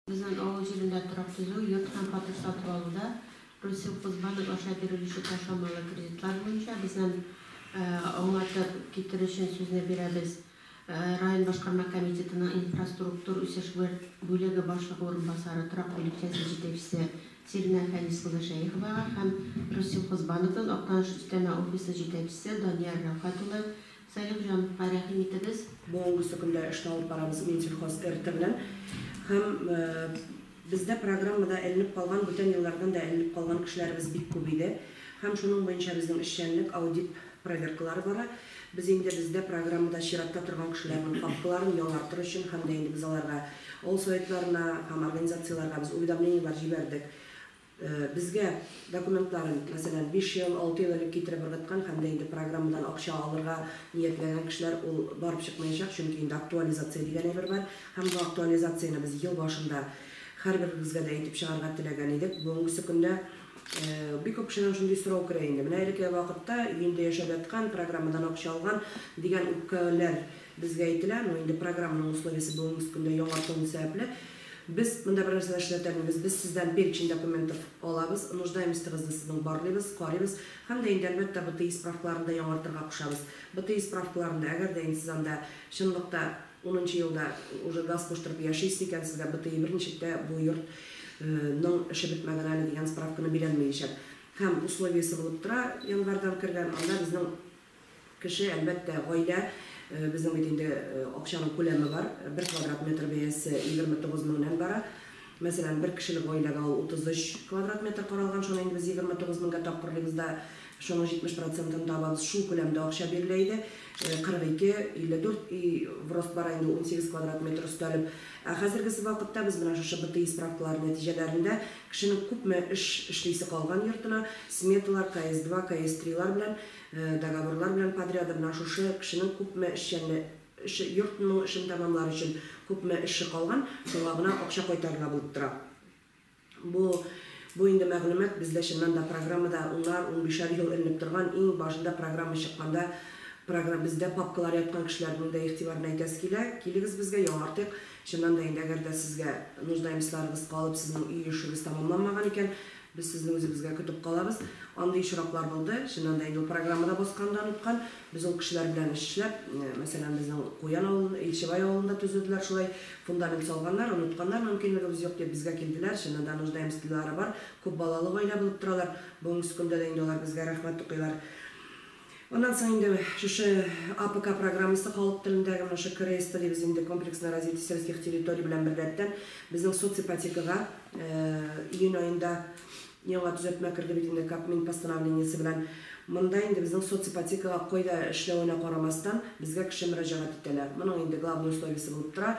Безнең авыл җирендә торак төзү, йорт һәм фатир сатып алуда Россельхозбанк аша бирелүче ташламалы кредитлар буенча безнен аңлатып китерү өчен сүзне бирәбез район башкарма комитетының инфраструктур үсеш бүлеге башлыгы урынбасары торак бүлекчәсе җитәкчесе Сиринә Фәнис кызы Шәеховага һәм Россельхозбанкның Актаныш өстәмә офисы җитәкчесе Данияр Рәүхәт улы Салих җан, га рәхим итегез. Буынгысы көндә эшне алып барабыз Минсельхоз РТ белән һәм бездә программада эленеп калган, бүтән еллардан да эленеп калган кешеләребез бик күп иде һәм шуның буенча безнең эшчәнлек, аудит проверкалары бара. Без инде бездә программада чиратта торган кешеләрнең папкаларын ялартыр өчен һәм дә инде без аларга, авыл Советларына һәм организацияләргә без уведомлениеләр җибәрдек. Безгә документларын, мәсәлән, биш ел, алты ел элек китереп ыргыткан һәм дә инде программадан акча алырга ниятләгән кешеләр ул барып чыкмаячак, чөнки инде актуализация дигән әйбер бар һәм бу актуализацияне без ел башында һәрберегезгә дә әйтеп чыгарга теләгән идек. Бүгенгесе көндә бик күп кешедән шундый сорау керә инде, менә элеккеге вакытта өендә яшәп яткан, программадан акча алган дигән үпкәләр безгә әйтелә, но инде программаның условиесе бүгенгесе көндә яңартылу сәбәпле, Без монда бернәрсә дә эшләтәлмибез, без сездән перечень документов алабыз, нуждаемостыгызны сезнең барлыйбыз, карыйбыз һәм дә инде, әлбәттә, БТИ справкаларын да яңартырга кушабыз. БТИ справкаларын да, әгәр дә инде сез анда чынлыкта унынчы елда уже газ куштырып яшисез икән, сезгә БТИ берничек тә бу йорт ның эше бетмәгән әле дигән справканы бирәлмиячәк. Һәм условиесе булып тора, январьдан кергән, анда безнең, Кеше, әлбәттә, гаилә. Безнең бит инде акчаның күләме бар. Бер квадрат метр бәясе 29 меңнән бара. Мәсәлән, бер кешелек гаиләгә ул 33 квадрат метр каралган. Шуны инде без 29 меңгә тапкырлыйбыз да, шуның 70 процентын табабыз. Шул күләмдә акча бирелә иде. 42, 54 өй в рост бара инде, 18 квадрат метр өстәлеп. Ә хәзергесе вакытта без менә шушы БТИ справкалары нәтиҗәләрендә кешенең күпме эш эшлисе калган йортына, сметалар, КС-2, КС-3 лар белән, Договорлар белән подряды менә шушы кешенең күпме эшчәнле эше, йортның эшен тәмамлар өчен күпме эше калган, шуңа гына акча кайтарыла булып тора. Бу, бу инде мәгълүмат бездә чыннан да программада унар, унбишәр ел эленеп торган, иң башында программа чыкканда програ бездә папкалар яткан кешеләрнең дә игътибарына әйтәсе килә, килегез безгә, яңартыйк. Чыннан да инде, әгәр дә сезгә нуждаемцларыгыз калып, сезнең өй эшегез тәмамланмаган икән, Без сезне үзебезгә көтеп калабыз. Андый очраклар булды, чыннан да инде ул программада басканны оныткан. Без ул кешеләр белән эш эшләп, мәсәлән, безнең Куян авылын, Илчебай авылын да төзеделәр шулай. Фундамент салганнар, онытканнар, мөмкинлегебез юк дип безгә килделәр, чыннан да нуждаемствлары бар, күп балалы гаилә булып торалар. Бүгенге көндә дә инде алар безгә рәхмәт укыйлар. Аннан соң инде шушы АПК программасы халык телендәге менә шушы КРСТ дибез инде, комплексное развитие сельских территорий белән беррәттән безнең соципотекага июнь аенда яңа төзәтмә керде бит инде Кабмин постановлениесе белән. Монда инде безнең соципотекага кайда эшләвенә карамастан, безгә кеше мөрәҗәгать итәләр. Моның инде главный условиесе булып тора,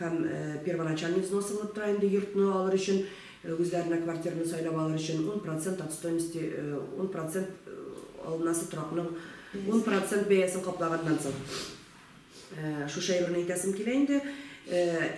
һәм первоначальный взнос алынып тора инде йортны алыр өчен, үзләренә квартираны сайлап алыр өчен, ун процент от стоимости, ун процент алынасы торакның ун процент бәясен каплаганнан соң. Шушы әйберне әйтәсем килә инде.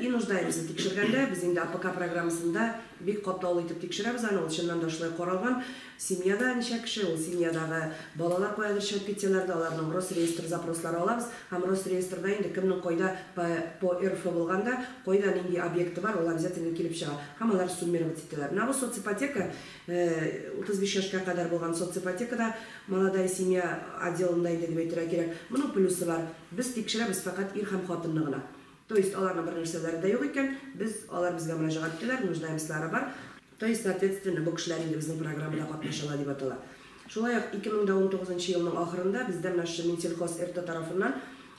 И нуждаемся тикшергәндә, без инде АПК программасында бик катлаулы итеп тикшерәбез аны, ул чыннан да шулай каралган. Семьяда ничә кеше, ул семьядагы балалар каядыр чыгып китсәләр дә, аларның Росреестр запрослары алабыз һәм Росреестрда инде кемнең кайда по по РФ булганда, кайда нинди объекты бар, ул обязательно килеп чыга һәм алар суммировать ителәләр. Менә бу соципотека, 35 яшькә кадәр булган соципотека да Молодая семья отделында инде дип әйтергә кирәк. Моның плюсы бар, без тикшерәбез фәкать ир һәм хатынны гына. То есть аларның бернәрсәләре дә юк икән, без, алар безгә мөрәҗәгать итәләр, нуждаемослары бар. То есть, соответственно, бу кешеләр инде безнең программада катнашалар дип атала. Шулай ук 2019 нчы елның ахырында бездә менә шушы Минсельхоз РТ тарафыннан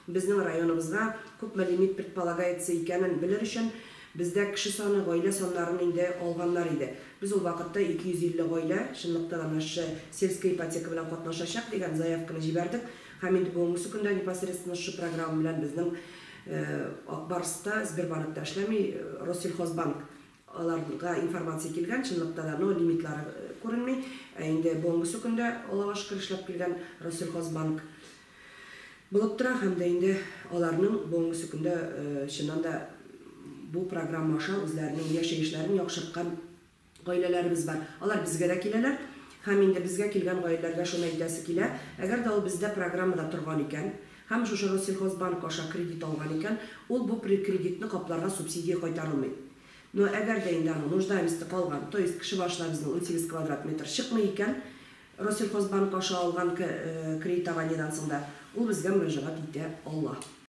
безнең районыбызга күпме лимит предполагается икәнен белер өчен бездә кеше саны, гаилә саннарын инде алганнар иде. Без ул вакытта 250 гаилә чынлыкта да менә шушы сельская ипотека белән катнашачак дигән заявканы җибәрдек һәм инде бүгенгесе көндә непосредственно шушы программа белән безнең Ак Барс та, Сбербанк та эшләми, Россельхозбанк Аларга информация килгән, чынлыкта да, но лимитлары күренми. Ә инде бүгенгесе көндә олыга шөкер эшләп килгән Россельхозбанк булып тора һәм дә инде аларның бүгенгесе көндә чыннан да бу программа аша үзләренең яшәешләрен яхшырткан гаиләләребез бар. Алар безгә дә киләләр һәм инде безгә килгән гаиләләргә шуны әйтәсе килә, әгәр дә ул бездә программада торган икән, Һәм шушы Россельхозбанк аша кредит алган икән, ул бу кредитны капларга субсидия кайтарылмый. Но әгәр дә инде аның нуждаемосте калган, то есть кеше башына безнең унсигез квадрат метр чыкмый икән, Россельхозбанк аша алган кредитованиедән соң да, ул безгә мөрәҗәгать итә ала.